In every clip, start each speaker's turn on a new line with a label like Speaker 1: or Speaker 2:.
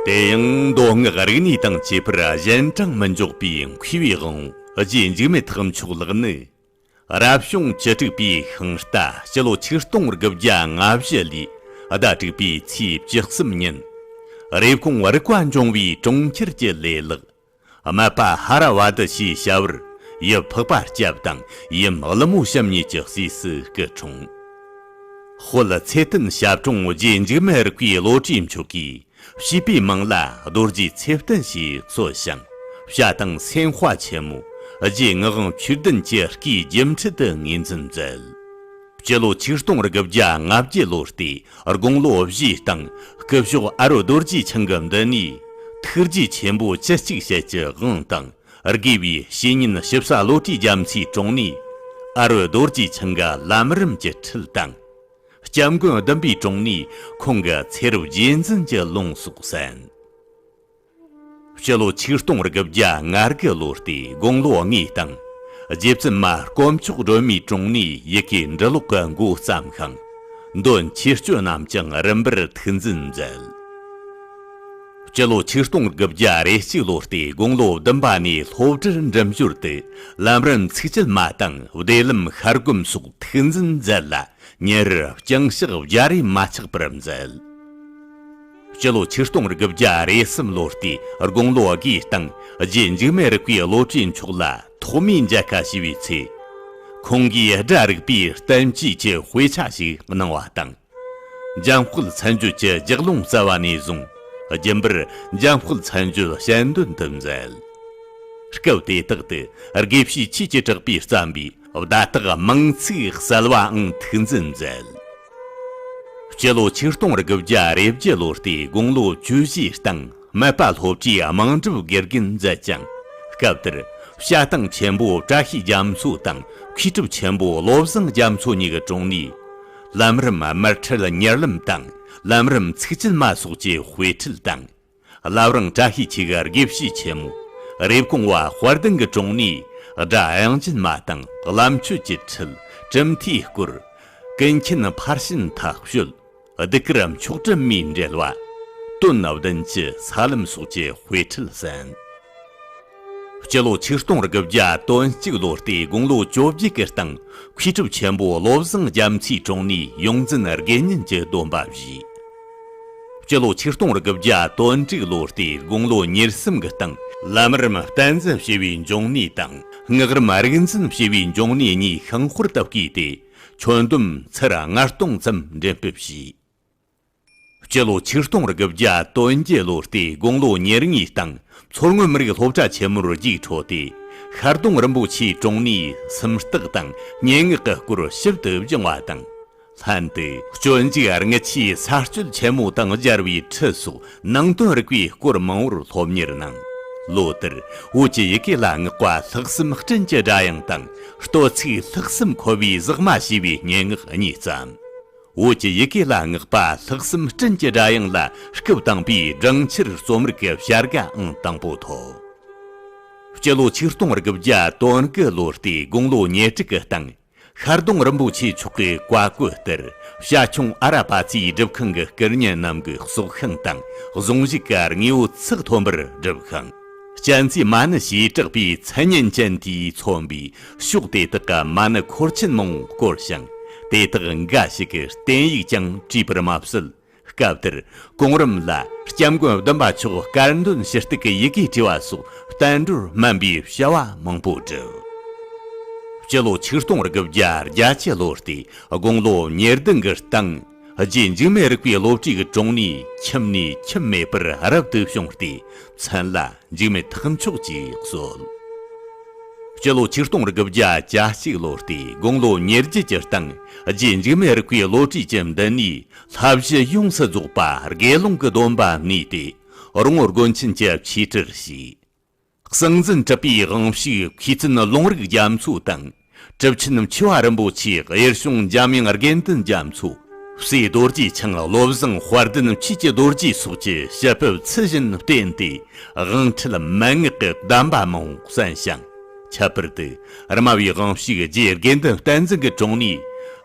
Speaker 1: དེ་ཡང་མདོ་སྔགས་རིག་གནས་དང་བཅས་པར་གཞན་དྲང་མི་འཇོག་པའི་མཁས་པའི་དབང་རྗེས་འཇིགས་མེད་ཐེག་མཆོག་ལགས་ནི། རབ་བྱུང་བཅུ་དྲུག་པའི་ཤིང་རྟ་སྤྱི་ལོ་ཆིག་སྟོང་དགུ་བརྒྱ་ལྔ་བཞི་ལོའི་ཟླ་དྲུག་པའི་ཚེས་བཅུ་གསུམ་ཉིན། རེབ་གོང་རིག་པ་འབྱུང་བའི་གྲོང་ཁྱེར་གྱི་ལས་ལགས། སྨད་པ་ཧ་ར་བ་ཏི་ཞེས་བྱ་བར། ཡི་ཕག་པ་སྐྱབས་དང་ཡི་མག་ལི་མོ་བཤམས་གཉིས་ཀྱི་སྲས་སུ་སྐུ་འཁྲུངས། སྤོ་ལི་ཚེ་བརྟན་ཞབས་དྲུང་རྗེ་འཇིགས་མེད་རིག་པའི་བློ་གྲོས་མཆོག་གིས་བྱིས་པའི་མིང་ལ་རྡོ་རྗེ་ཚེ་བརྟན་ཞེས་གསོལ་ཞིང་བྱ་དང་སེང་དཔའ་ཆེན་མོ་རྗེ་ངག་དབང་ཆོས་ལྡན་གྱི་སྐུའི་རྒྱུ་འཕྲུལ་དུ་ངོས་འཛིན་མཛད། སྤྱི་ལོ་ཆིག་སྟོང་དགུ་བརྒྱ་ང་བརྒྱད་ལོ་སྟེ་དགུང་ལོ་བཞིའི་སྟེང་སྐུ་ཞོགས་ཨ་རོ་རྡོ་རྗེ་འཆང་གི་མདུན་ནས། ཐུགས་རྗེ་ཆེན་པོ་བཅུ་གཅིག་ཞལ་གྱི་དབང་དང་དགེ་བའི་བཤེས་གཉེན་ཞིབ་ས་བློ་གྲོས་རྒྱ་མཚོའི་དྲུང་ནས། ཨ་རོ་རྡོ་རྗེ་འཆང་གི་བླ་མ་རིམ་གྱི་ཁྲིད་དང། སྐྱབས་མགོན་བདུན་པའི་དྲུང་ནས་ཁོང་གི་ཚེ་རབས་རྗེས་འཛིན་གྱི་ལུང་སོགས་གསན། སྤྱི་ལོ་ཆིག་སྟོང་རེ་དགུ་བརྒྱ་ང་དགུ་ལོ་སྟེ་དགུང་ལོ་ལྔའི་སྟེང། རྗེ་བཙུན་མ་དཀོན་མཆོག་སྒྲོལ་མའི་དྲུང་ནས་ཡི་གེ་འབྲི་ཀློག་གི་མགོ་བརྩམས་ཤིང། འདོན་ཆོས་སྤྱོད་རྣམས་ཀྱང་རིམ་པར་ཐུགས་འཛིན་མཛད། སྤྱི་ལོ་ཆིག་སྟོང་དགུ་བརྒྱ་རེ་གཅིག་ལོ་སྟེ་དགུང་ལོ་བདུན་པ་ནས་སློབ་གྲྭར་འགྲིམ་ཞོར་དུ་ལམ་རིམ་ཚིག་བཅད་མ་དང་བདེ་ལམ་ཤར་སྒོམ་སོགས་ཐུགས་འཛིན་མཛད་ལ་ཉིན་རེར་ཅིང་ཞག་བརྒྱ་རེ་མ་ཆག་པར་མཛད། སྤྱི་ལོ་ཆིག་སྟོང་དགུ་བརྒྱ་རེ་གསུམ་ལོ་སྟེ་དགུང་ལོ་དགུའི་སྟེང་རྗེ་འཇིགས་མེད་རིག་པའི་བློ་གྲོས་མཆོག་ལ་ཐོག་མའི་མཇལ་ཁ་ཞུས་པའི་ཚེ། ཁོང་གིས་སྒྲ་རིག་པའི་བསྟན་བཅོས་ཀྱི་དཔེ་ཆ་ཞིག་གནང་བ་དང། འཇམ་སྐུད་ཚན་བརྒྱུད་ཀྱི་རྒྱགས་ལུང་རྩ་བ་ནས་བཟུང་རྒྱུན་པར་འཇམ་སྐུད་ཚན་བརྒྱུད་གཞན་དོན་དུ་མཛད། སྐབས་དེ་དག་ཏུ་དགེ་བཤེས་ཆོས་ཀྱི་གྲགས་པས་བརྩམས་པའི་བརྡ་དག་མིང་ཚིག་གསལ་བའང་ཐུགས་འཛིན་མཛད། སྤྱི་ལོ་ཆིག་སྟོང་དགུ་བརྒྱ་རེ་བརྒྱད་ལོར་ཏེ་དགུང་ལོ་བཅུ་བཞིའི་སྟེང་སྨད་པ་སློབ་ཀྱིས་དམངས་སྒྲུབ་དགེ་རྒན་མཛད་ཅིང། སྐབས་དེར་བཤད་སྟངས་ཆེན་པོ་བཀྲ་ཤིས་རྒྱ་མཚོ་དང་མཁས་གྲུབ་ཆེན་པོ་བློ་བཟང་རྒྱ་མཚོ་གཉིས་ཀྱི་དྲུང་ནས། ལམ་རིམ་དམར་ཁྲིད་གཉེར་ལམ་དང་ལམ་རིམ་ཚིག་བཅད་མ་སོགས་ཀྱི་དཔེ་ཁྲིད་དང། བླ་བྲང་བཀྲ་ཤིས་འཁྱིལ་གར་དགེ་བཤེས་ཆེན་མོ། རེབ་གོང་བ་དཔལ་ལྡན་གྱི་དྲུང་ནས། སྒྲ་དབྱངས་རྒྱུན་མ་དང་བླ་མཆོད་ཀྱི་ཁྲིད་གྲུབ་མཐའི་སྐོར། ཀུན་མཁྱེན་ཕར་ཕྱིན་ཐག་གཅོད། བདུད་དཀར་མཆོག་སྤྲུལ་མིའི་འབྲེལ་བ། དོན་བདུན་གྱི་ས་ལམ་སོགས་ཀྱི་དཔེ་ཁྲིད་གསན། སྤྱི་ལོ་ཆིག་སྟོང་དགུ་བརྒྱ་དོན་གཅིག་ལོ་སྟེ་དགུང་ལོ་བཅོ་བརྒྱད་ཀྱི་སྟེང་མཁས་གྲུབ་ཆེན་པོ་བློ་བཟང་རྒྱ་མཚོའི་དྲུང་ནས་ཡོངས་འཛིན་དགེ་བསྙེན་གྱི་སྡོམ་པ་བཞེས། སྤྱི་ལོ་ཆིག་སྟོང་དགུ་བརྒྱ་དོན་དྲུག་ལོ་སྟེ་དགུང་ལོ་ཉེར་གསུམ་གྱི་སྟེང། ལམ་རིམ་བསྟན་འཛིན་ཞེས་པའི་འབྱུང་གནས་དང་སྔགས་རིམ་རིག་འཛིན་ཞེས་པའི་འབྱུང་གནས་གཉིས་ཤིང་ཧོར་དུ་བསྐྱེད་དེ། ཁྱོན་བསྡོམས་ཚར་ལྔ་སྟོང་ཙམ་འགྲེམས་སྤེལ་བྱས། སྤྱི་ལོ་ཆིག་སྟོང་དགུ་བརྒྱ་དོན་བརྒྱད་ལོ་སྟེ་དགུང་ལོ་ཉེར་གཉིས་སྟེང་མཚོ་སྔོན་མི་རིགས་སློབ་གྲྭ་ཆེན་མོར་རྒྱུགས་འཕྲོད་དེ། ཤར་གདོང་རིན་པོ་ཆེའི་དྲུང་ནས་སེམས་རྟགས་དང་སྙན་ངག་གི་སྐོར་ཞིབ་ཏུ་སྦྱངས་བ་དང་ལྷན་དུ་སྤྱོད་འཇུག་རྔུལ་ཆུའི་གསར་སྤྱོད་ཆེན་མོ་དང་སྦྱར་བའི་ཁྲིད་སོགས་ནང་དོན་རིག་པའི་སྐོར་མང་བོར་སློབ་གཉེར་གནང། ལོ་དེར་བོད་ཀྱི་ཡི་གེ་ལ་བསྔགས་པ་ལྷག་བསམ་སྤྲིན་གྱི་སྒྲ་དབྱངས་དང་བསྟོད་ཚིག་ལྷག་བསམ་འཁོལ་བའི་ཟག་མ་ཞེས་པའི་སྙན་ངག་གཉིས་བརྩམས། བོད་ཀྱི་ཡི་གེ་ལ་བསྔགས་པ་ལྷག་བསམ་སྤྲིན་གྱི་སྒྲ་དབྱངས་ལ་སྐུ་བཏང་པའི་སྦྲང་ཆར་གཙོ་མར་གྱི་བྱ་དགའང་དང་པོ་ཐོབ། སྤྱི་ལོ་ཆིག་སྟོང་དགུ་བརྒྱ་དོན་གྱི་ལོ་སྟེ་དགུང་ལོ་ཉེར་དྲུག་གི་སྟེང་ཤར་གདོང་རིན་པོ་ཆེ་མཆོག་གི་བཀའ་བཀོད་ལྟར་བྱ་ཁྱུང་ཨ་ར་པ་ཚའི་སྒྲུབ་ཁང་གི་སྐལ་བརྙན་རྣམས་ཀྱི་སྲོག་ཤིང་དང་གཟུངས་གཞི་གར་དངོས་བོ་ཚགས་ཐོན་པར་སྒྲུབ་ཁང། གཅན་ཚའི་མ་ཎི་ཞེས་གྲགས་པའི་མཚན་སྙན་ཅན་དེས་མཚོན་པའི་ཕྱོགས་དེ་དག་གི་མ་ཎི་འཁོར་ཆེན་མོང་བསྐོར་ཞིང་དེ་དག་འགའ་ཞིག་གི་བསྟན་ཡིག་ཀྱང་བྲིས་པར་མ་ཟད། སྐབས་དེར་གོང་རིམ་ལ་སྐྱབས་མགོན་བདུན་པ་མཆོག་དཀར་འདོན་ཞུ་གཏུགས་ཀྱི་ཡི་གེ་བྲིས་པ་སོགས་བསྟན་འགྲོར་སྨན་པའི་བྱ་བ་མང་པོ་བསྒྲུབས། སྤྱི་ལོ་ཆིག་སྟོང་དགུ་བརྒྱ་རྒྱ་ཆའི་ལོ་སྟེ་དགུང་ལོ་ཉེར་བདུན་གྱི་སྟེང། རྗེས་འཇིགས་མེད་རིག་པའི་སློབ་ཁྲིད་ཀྱི་དྲུང་ནས་ཁྱིམ་ནས་ཁྱིམ་མེད་པར་རབ་ཏུ་བྱུང་སྟེ་མཚན་ལ་འཇིགས་མེད་ཐུགས་མཆོག་ཅེས་གསོལ། སྤྱི་ལོ་ཆིག་སྟོང་དགུ་བརྒྱ་གྱ་གཅིག་ལོ་སྟེ་དགུང་ལོ་ཉེར་བརྒྱད་ཀྱི་སྟེང་རྗེས་འཇིགས་མེད་རིག་པའི་སློབ་ཁྲིད་ཀྱི་མདུན་ནས་ལྷ་བཞི་ཡོངས་སུ་རྫོགས་པ་དགེ་སློང་གི་སྡོམ་པ་གནས་ཏེ་རོང་བོ་དགོན་ཆེན་གྱི་ཆོས་ཁྲིར་ཞུགས། གསང་འཛིན་གྲུབ་པའི་དབང་ཕྱུག་མཁས་བཙུན་ལུང་རིགས་རྒྱ་མཚོ་དང། གྲུབ་ཆེན་འཆི་བ་རིན་པོ་ཆེ་གཡེར་གཤོང་འཇམ་དབྱངས་དགེ་འདུན་རྒྱ་མཚོ། བསེ་རྡོ་རྗེ་འཆང་བློ་བཟང་དཔལ་ལྡན་ཆོས་ཀྱི་རྡོ་རྗེ་སོགས་ཀྱི་ཞལ་ཕུད་ཚུལ་བཞིན་བསྟན་ཏེ་དབང་ཁྲིད་མན་ངག་གི་གདམས་པ་མང་བོ་གསན་ཞིང། ཁྱད་པར་དུ་རྨ་བའི་དབང་ཕྱུག་རྗེ་དགེ་འདུན་བསྟན་འཛིན་གྱི་དྲུང་ནས་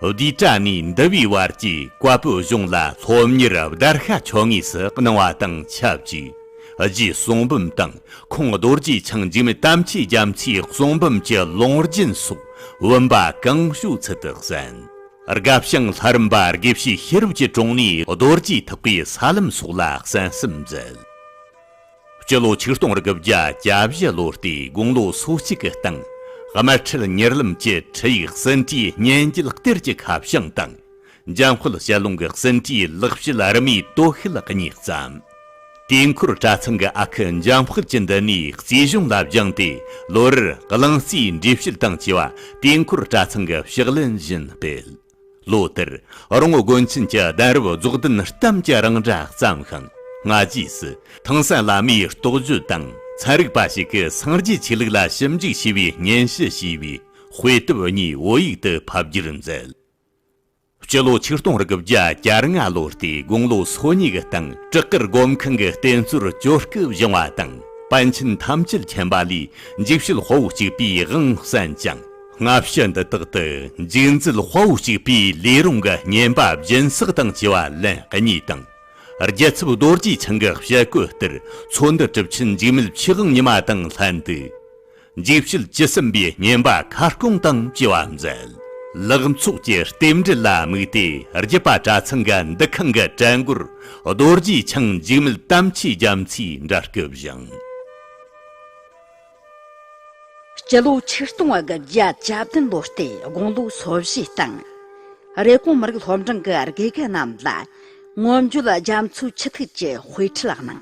Speaker 1: བསྡུས་གྲྭ་ནས་འདུལ་བའི་བར་གྱི་བཀའ་པོད་གཞུང་ལ་སློབ་གཉེར་བརྡར་ཤ་ཆོ་ངེས་སུ་གནང་བ་དང་ཆབས་ཅིག་རྗེའི་གསུང་འབུམ་དང་ཁོང་རྡོ་རྗེ་འཆང་འཇིགས་མེད་དམ་ཆོས་རྒྱ་མཚོའི་གསུང་འབུམ་གྱི་ལུང་རྒྱུན་སོགས་བུམ་པ་གང་བྱུང་ཚུལ་དུ་གསན། སྒབ་ཞིང་ལྷ་རིམ་པ་དགེ་བཤེས་ཤེས་རབ་ཀྱི་དྲུང་ནས་རྡོ་རྗེ་ཐུགས་ཀའི་ས་ལམ་སོགས་ལ་གསན་གསུམ་མཛད། སྤྱི་ལོ་ཆིག་སྟོང་དགུ་བརྒྱ་གྱ་བཞི་ལོ་སྟེ་དགུང་ལོ་སོ་གཅིག་གི་སྟེང་དམར་ཁྲིད་ཉེར་ལམ་གྱི་ཁྲིད་ཡིག་ཟིན་བྲིས་སྙན་བརྒྱུད་གཏེར་གྱི་ཁ་བྱང་དང་འཇམ་དཔལ་དཔྱད་ཀློང་གི་ཟིན་བྲིས་ལག་བཤད་རི་མོའི་དོ་ཤལ་ལ་བསྙེགས་ཙམ། དུས་འཁོར་གྲྭ་ཚང་གི་ཨ་ཁུ་འཇམ་དཔལ་གྱིས་འདི་ནས་རྩིས་གཞུང་ལ་བསྒྱངས་ཏེ་ལོ་རེར་གླིང་རྩིས་འགྲེལ་བཤད་དང་བཅས་པ་དུས་འཁོར་གྲྭ་ཚང་གི་ཕྱག་ལེན་བཞིན་སྤེལ། ལོ་དེར་རོང་བོ་དགོན་ཆེན་གྱི་གདན་རབས་རྫོགས་ལྡན་གཏམ་གྱི་རིང་གྲྭ་བརྩམས་ཤིང་སྔ་རྗེས་སུ་ཐང་སན་བླ་མའི་རྟོགས་བརྗོད་དང་ཚན་རིག་པ་ཞིག་གིས་སངས་རྒྱས་ཆོས་ལུགས་ལ་ཞིབ་འཇུག་བྱས་པའི་སྙན་ཞུ་ཞེས་པའི་དཔེ་དེབ་གཉིས་བོད་ཡིག་ཏུ་ཕབ་རྒྱུར་མཛད། སྤྱི་ལོ་ཆིག་སྟོང་རེ་དགུ་བརྒྱ་གྱ་ལྔ་ལོ་སྟེ་དགུང་ལོ་སོ་གཉིས་ཀྱི་སྟེང་བྲག་དཀར་སྒོམ་ཁང་གི་རྟེན་གཙོར་སྤྱོད་སྐབས་བཞེངས་བ་དང་པཎ་ཆེན་ཐམས་ཅད་མཁྱེན་པ་ལས་འཇིགས་བྱེད་དཔའ་བོ་གཅིག་པའི་དབང་བསྩལ་ཅིང། སྔ་ཕྱི་འདི་དག་ཏུ་འཇིགས་མཛད་དཔའ་བོ་གཅིག་པའི་ལས་རུང་གི་བསྙེན་པ་སྦྱིན་བསགས་དང་བཅས་པ་ལན་གཉིས་དང། རྒྱལ་ཚབ་རྡོ་རྗེ་འཆང་གི་ཞལ་བཀོད་ལྟར་ཚོགས་འདུ་གྲུབ་ཕྱིན་འཇིགས་མེད་ཆོས་དབང་ཉི་མ་དང་ལྷན་དུ། འཇིགས་བྱེད་ཇི་སྲིན་པའི་བསྙེན་པ་ཁ་སྐོང་དང་བཅས་པ་མཛད། ལག་ཚོགས་ཀྱི་རྟེན་འབྲེལ་ལ་དམིགས་ཏེ་རྒྱུད་པ་གྲྭ་ཚང་གི་འདུ་ཁང་གི་གྲལ་མགོར་རྡོ་རྗེ་འཆང་འཇིགས་མེད་དམ་ཆོས་རྒྱ་མཚོའི་འདྲ་སྐུ་བཞེངས།
Speaker 2: སྤྱི་ལོ་ཆིག་སྟོང་དགུ་བརྒྱ་གྱ་བདུན་ལོ་སྟེ་དགུང་ལོ་སོ་བཞི་སྟེང། རེབ་གོང་མི་རིགས་སློབ་འབྲིང་གི་དགེ་རྒན་རྣམས་ལ། སྔོན་བརྗོད་ལ་རྒྱ་མཚོའི་ཆུ་ཐིགས་ཀྱི་དཔེ་ཁྲིད་ལགས་གནང།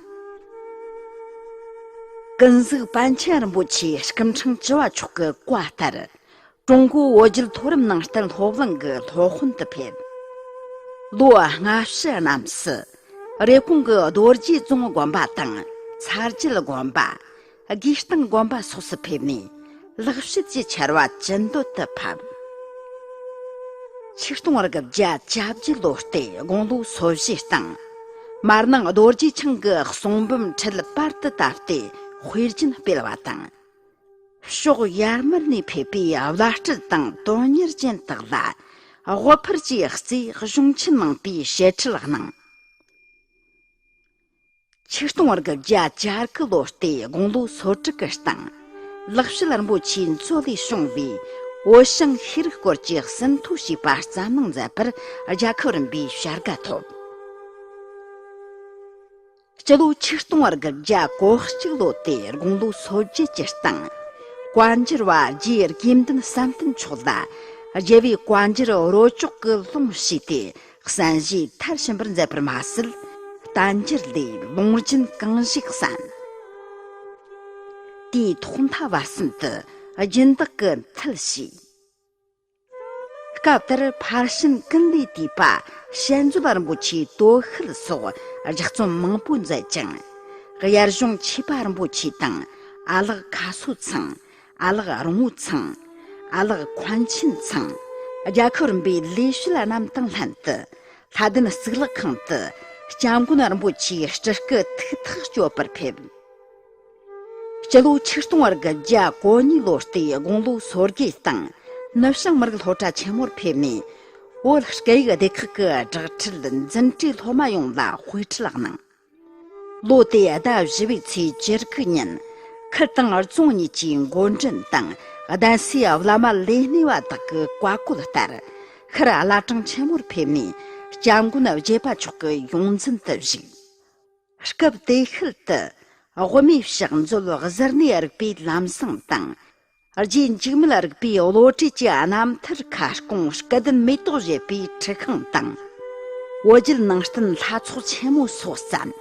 Speaker 2: ཀུན་གཟིགས་པཎ་ཆེན་རིན་པོ་ཆེའི་སྐུ་འཕྲེང་བཅུ་བ་མཆོག་གི་བཀའ་ལྟར། ཀྲུང་གོའི་བོད་བརྒྱུད་མཐོ་རིམ་ནང་བསྟན་སློབ་གླིང་གི་སློབ་དཔོན་དུ་ཕེབས། ལོ་ལྔ་བཅུ་རྣམས་སུ། རེབ་གོང་གི་རྡོ་རྗེ་བཙུན་དགོན་པ་དང་ཚར་རྒྱུད་དགོན་པ། དགོས་གཏམ་དགོན་པ་སོགས་སུ་ཕེབས་ནས་ལག་བཤད་ཀྱི་ཆར་བ་ཅི་འདོད་དུ་ཕབ། ཆིག་སྟོང་རེ་དགུ་བརྒྱ་ཆ་བཞི་ལོ་སྟེ་དགུང་ལོ་སོ་བཞི་སྟེང། མར་ནང་རྡོ་རྗེ་འཆང་གི་གསུང་འབུམ་ཁྲིད་པར་དུ་བཏབ་སྟེ་དཔེ་རྒྱུན་སྤེལ་བ་དང། ཕྱོགས་ཡར་མར་ནས་ཕེབས་པའི་བླ་སྤྲུལ་དང་དོན་གཉེར་ཅན་དག་ལ་དབུ་ཕར་གྱི་རྩིས་གཞུང་ཆེན་གནང་པའི་བཤད་ཁྲིད་གནང། ཆིག་སྟོང་བར་གྱི་བརྒྱ་ཆར་གྱི་ལོ་ཟླའི་དགུང་ལོ་སོ་དྲུག་གི་སྟེང། ལག་བཤད་རིན་པོ་ཆེའི་མཚོ་ལས་བྱུང་བའི་བོད་ཞིང་ཤེས་རིག་སྐོར་གྱི་ཟིན་ཐོ་ཞིག་པར་རྩ་གནང་མཛད་པར་རྒྱལ་ཁབ་རིམ་པའི་བྱ་དགའ་ཐོབ། སྤྱི་ལོ་ཆིག་སྟོང་བར་གྱི་བརྒྱ་གོ་གཅིག་ལོ་ཟླའི་དགུང་ལོ་སོ་བརྒྱད་ཀྱི་སྟེང། བཀའ་འགྱུར་བ་རྗེ་དགེ་འདུན་བསམ་གཏན་མཆོག་ལ་རྒྱལ་བའི་བཀའ་འགྱུར་རོ་ཅོག་གི་ལུང་ཞུས་ཏེ་བསམ་གཞིག་མཐར་ཕྱིན་པར་མཛད་པར་མ་ཟད་བསྟན་འགྱུར་ལས་ལུང་རྒྱུན་གང་ཞིག་བསམ་དེའི་ཐོག་མཐའ་བར་གསུམ་དུ་སྦྱིན་བདག་གི་མཐུ་ཞིག། སྐབས་དེར་ཕར་ཕྱིན་ཀུན་ལས་དུས་པ་ཞལ་འཛོམས་པ་རིན་པོ་ཆེའི་སྟོད་ཤུལ་སོགས་རྒྱ་བརྩོན་མང་པོ་མཛད་ཅིང། དབྱར་གཞུང་ཆོས་པ་རིན་པོ་ཆེ་དང་ཨ་ལགས་ཁ་སོ་ཚང། ཨ་ལགས་རོང་བོ་ཚང། ཨ་ལགས་ཁོང་ཆེན་ཚང། རྒྱལ་ཁབ་རིམ་པའི་ལས་བྱེད་ལ་གནམ་ཐང་ལྷན་དུ་ལྷ་ལྡན་གཙུག་ལག་ཁང་དུ་སྐྱབས་མགོན་རིན་པོ་ཆེའི་སྤྲུལ་སྐུ་ཐུགས་ཐག་གཅོད་པར་ཕེབས། སྤྱི་ལོ་ཆིག་སྟོང་བར་གྱི་རྒྱ་གོ་གཉིས་ལོ་སྟེ་དགུང་ལོ་སོ་བརྒྱད་སྟེང་ནུབ་བྱང་མི་རིགས་སློབ་གྲྭ་ཆེན་མོར་ཕེབས་ནས་བོད་སྐད་ཡིག་སྡེ་ཁག་གི་སྦྲགས་ཁྲིད་འཛིན་གྲྭའི་སློབ་མ་ཡོངས་ལ་དཔེ་ཁྲིད་གནང། ལོ་དེའི་ཟླ་བཞི་བའི་ཚེས་བཅུ་དགུ་ཉིན། ཁུལ་དང་རྫོང་གཉིས་ཀྱི་མགོ་འདྲེན་དང་གདན་སའི་བླ་མ་ལས་སྣེ་བ་དག་གི་བཀའ་བཀོད་ལྟར། ཤར་བླ་བྲང་ཆེན་མོར་ཕེབས་ནས་སྐྱབས་མགོན་བརྒྱད་པ་མཆོག་གི་ཡོངས་འཛིན་དུ་བཞུགས། སྐབས་དེའི་ཤུལ་དུ། དབུ་མའི་ཕྱག་མཛོད་གཟུར་གནས་རིག་པའི་ལམ་བཟང་དང། རྗེས་འཇུག་མེད་རིག་པའི་བློ་གྲོས་ཀྱི་རྣམ་ཐར་ཁ་སྐོང་སྐལ་ལྡན་མེ་ཏོག་བཞད་པའི་ཁྲི་ཁང་དང། བོད་བརྒྱུད་ནང་བསྟན་ལྷ་ཚོགས་ཆེན་མོའི་སོ་བརྩམས།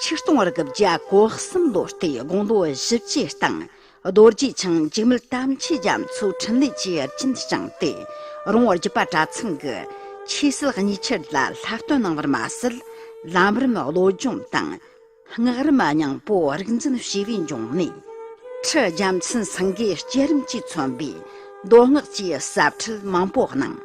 Speaker 2: ཆིག་སྟོང་རེ་དགུ་བརྒྱ་གོ་གསུམ་ལོ་སྟེ་དགུང་ལོ་བཞི་བཅུའི་སྟེང་རྡོ་རྗེ་འཆང་འཇིགས་མེད་དམ་ཆོས་རྒྱ་མཚོའི་འཕྲིན་ལས་ཀྱི་རྒྱུན་བསྐྱངས་ཏེ་རོང་བོ་རྒྱུད་པ་གྲྭ་ཚང་གི་ཆོས་སྲིད་གཉིས་ཆར་ལ་ལྷག་བསྟོད་གནང་བར་མ་ཟད་ལམ་རིམ་བློ་སྦྱོང་དང། སྔགས་རིམ་སྙིང་པོ་རིག་འཛིན་བྱེ་བས་འབྱུང་གནས། ཁྲི་རྒྱ་མཚན་སེང་གེའི་བསྐྱེད་རིམ་གྱིས་མཚོན་པའི་མདོ་སྔགས་ཀྱི་ཟབ་ཁྲིད་མང་པོ་གནང།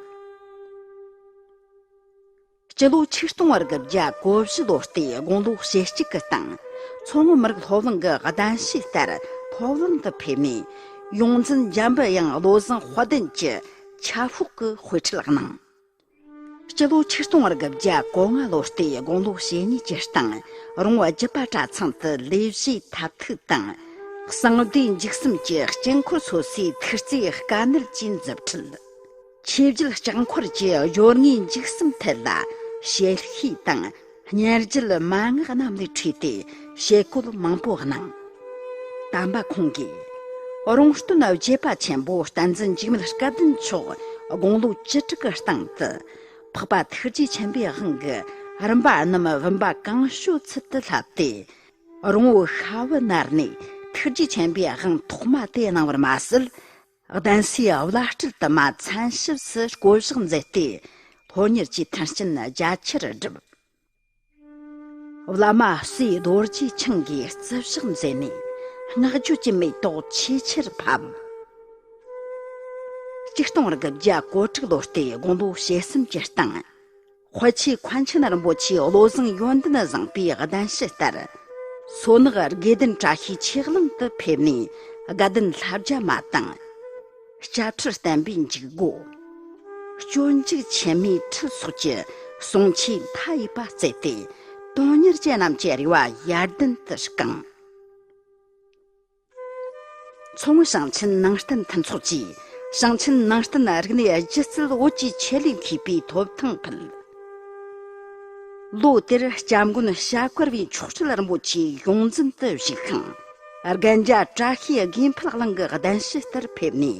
Speaker 2: སྤྱི་ལོ་ཆིག་སྟོང་རིག་བརྒྱ་གོ་བཞི་ལོ་སྟེ་དགུང་ལོ་ཞེ་གཅིག་གི་སྟེང། མཚོ་སྔོན་མི་རིགས་སློབ་གླིང་གི་གདན་ཞུས་ལྟར་སློབ་གླིང་དུ་ཕེབས་ནས། ཡོངས་འཛིན་འཇམ་དབྱངས་བློ་བཟང་དཔལ་ལྡན་གྱི་ཁྱབ་ཤོག་གི་དཔེ་ཁྲིད་གནང། སྤྱི་ལོ་ཆིག་སྟོང་རེ་དགུ་བརྒྱ་གོ་ལྔ་ལོ་སྟེ་དགུང་ལོ་ཞེ་གཉིས་ཀྱི་སྟེང་རོང་བ་རྒྱུད་པ་གྲྭ་ཚང་དུ་ལས་བྱེད་ཐབས་ཐུག་དང། གསང་བདེ་འཇིགས་གསུམ་གྱི་དཀྱིལ་འཁོར་སོ་སོའི་མཐུ་རྩེའི་དཀའ་གནད་བཅས་མཛུབ་ཁྲིད། ཆོས་བརྒྱུད་ལྕགས་འཁོར་གྱི་སྦྱོར་ངན་འཇིགས་གསུམ་ཐད་ལ་བཤད་ཤེས་དང། ཉེར་བརྒྱད་མ་སྔགས་རྣམས་ལས་འཁྲུལ་ཏེ་བྱེད་བཀོད་མང་པོ་སྣང། དམ་པ་ཁོང་གིས་རོང་སྟོན་རྒྱས་པ་ཆེན་པོ་བསྟན་འཛིན་འཇིགས་མེད་སྐལ་ལྡན་མཆོག་དགུང་ལོ་བཅུ་དྲུག་གི་སྟེང་དུ་འཕགས་པ་ཐུགས་རྗེ་ཆེན་པོའི་དབང་གི་རིམ་པ་རྣམས་བུམ་པ་གང་བྱོའི་ཚུལ་དུ་བསླབས་ཏེ། རོང་བོ་ཤྭ་བོ་ནར་ནས་ཐུགས་རྗེ་ཆེན་པོའི་དབང་ཐོག་མ་དེ་གནང་བར་མ་ཟད། གདན་སའི་བླ་སྤྲུལ་དུ་མ་མཚན་ཞིབ་སུ་བསྐོ་གཞག་མཛད་དེ། ལྷོ་གཉེར་གྱི་མཐུན་རྐྱེན་རྒྱ་ཆེར་བསྒྲུབས། བླ་མ་སྲས་རྡོ་རྗེ་འཆང་གིས་བརྩི་བཞག་མཛད་ནས་བསྔགས་བརྗོད་ཀྱི་མེ་ཏོག་ཆེས་ཆེར་ཕབ། སྤྱི་སྟོང་རིགས་བརྒྱ་གོ་དྲུག་ལོ་སྟེ་དགུང་ལོ་ཞེ་གསུམ་གྱི་སྟེང། ཧོ་ཆི་ཁོན་ཆི་ནར་འབོ་ཆིའི་བློ་བཟང་ཡོན་ཏན་བཟང་པོའི་གདན་ཞུ་ལྟར། སོ་ནག་དགེ་ལྡན་བཀྲ་ཤིས་ཆེ་གླིང་དུ་ཕེབས་ནས་དགའ་ལྡན་ལྷ་བརྒྱ་མ་དང། སྐྱ་ཁྲུ་བསྟན་པའི་འཇིགས་སྒོ། སྤྱོད་འཇུག་ཆེན་མོའི་ཁྲི་སོགས་ཀྱི་གསུང་ཆོས་མཐའ་ཡས་པ་བསྩལ་ཏེ་དོན་གཉེར་ཅན་རྣམས་ཀྱི་རེ་བ་ཡར་ལྡན་དུ་བསྐངས། མཚོ་སྔོན་ཞིང་ཆེན་ནང་བསྟན་མཐུན་ཚོགས་ཀྱིས་ཞིང་ཆེན་ནང་བསྟན་རིག་གནས་སྒྱུ་རྩལ་བོད་ཀྱི་ཆོས་ལུགས་མཁས་པའི་ཐོབ་ཐང་ཕུལ། ལོ་དེར་སྐྱབས་མགོན་ཞྭ་དཀར་བའི་མཆོག་སྤྲུལ་རིན་པོ་ཆེ་ཡོངས་འཛིན་དུ་བཞུགས་ཤིང། རྒན་རྒྱ་བཀྲ་ཤིས་དགེ་འཕེལ་གླིང་གི་གདན་ཞུ་ལྟར་ཕེབས་ནས་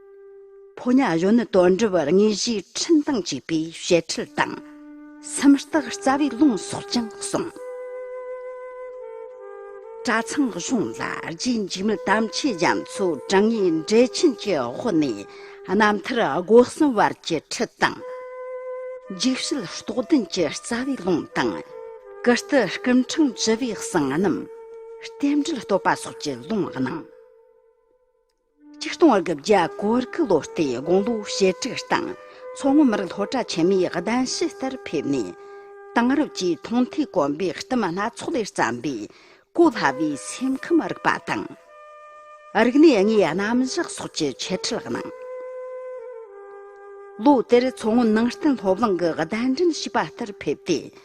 Speaker 2: ཕོ་ཉའི་གཞོན་ནུ་དོན་འགྲུབ་དངོས་གཞིའི་འཕྲིན་བཏང་བྱས་པའི་བཤད་ཁྲིད་དང། སེམས་རྟགས་རྩ་བའི་ལུང་སོགས་ཀྱང་གསུངས། གྲྭ་ཚང་གཞུང་ལ་རྗེ་འཇིགས་མེད་དམ་ཆོས་རྒྱ་མཚོ་དྲང་ངེས་འགྲེལ་ཆེན་གྱི་དབུ་ནས་རྣམ་ཐར་སྒོ་གསུམ་བར་གྱི་ཁྲིད་དང། འཇིགས་བྱེད་རྟོགས་ལྡན་གྱི་རྩ་བའི་ལུང་དང། ཀིརྟི་སྐུ་འཕྲེང་བཅུ་པའི་གསང་རྣམ། རྟེན་འབྲེལ་བསྟོད་པ་སོགས་ཀྱི་ལུང་གནང། ཆིག་སྟོང་བར་གྱི་བརྒྱ་སྐོར་བརྒྱུད་ལོ་ལྟའི་དགུང་ལོ་ཞེ་དྲུག་སྟེང་མཚོ་སྔོན་མི་རིགས་སློབ་གྲྭ་ཆེན་མོའི་གདན་ཞུས་ལྟར་ཕེབས་ནས། དེང་རབས་ཀྱི་མཐོང་ཐོས་གོམས་པའི་བསྟི་མ་སྣ་ཚོགས་ལས་བརྩམས་པའི་གོ་སླ་བའི་སེམས་ཁམས་རིག་པ་དང། རིག་གནས་དངོས་རྣམ་བཞག་སོགས་ཀྱི་འཆད་ཁྲིད་གནང། ལོ་དེར་མཚོ་སྔོན་ནང་བསྟན་སློབ་གླིང་གི་གདན་འདྲེན་བྱིས་པ་ལྟར་ཕེབས་ཏེ།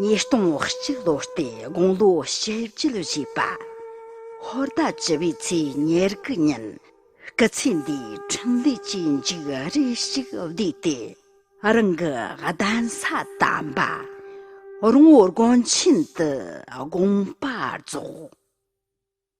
Speaker 2: ཉིས་སྟོང་བཅུ་ལོ་སྟེ་དགུང་ལོ་བཞི་བཅུ་ལ་བཞུགས་པ། ཧོར་ཟླ་བཅུ་བའི་ཚེས་ཉེར་དགུ་ཉིན་སྐུ་ཚེ་འདིའི་འཕྲིན་ལས་ཀྱི་མཇུག་རེ་ཞིག་བསྡུས་ཏེ་རང་གི་གདན་ས་དམ་པ་རོང་བོ་དགོན་ཆེན་དུ་དགོངས་པ་རྫོགས།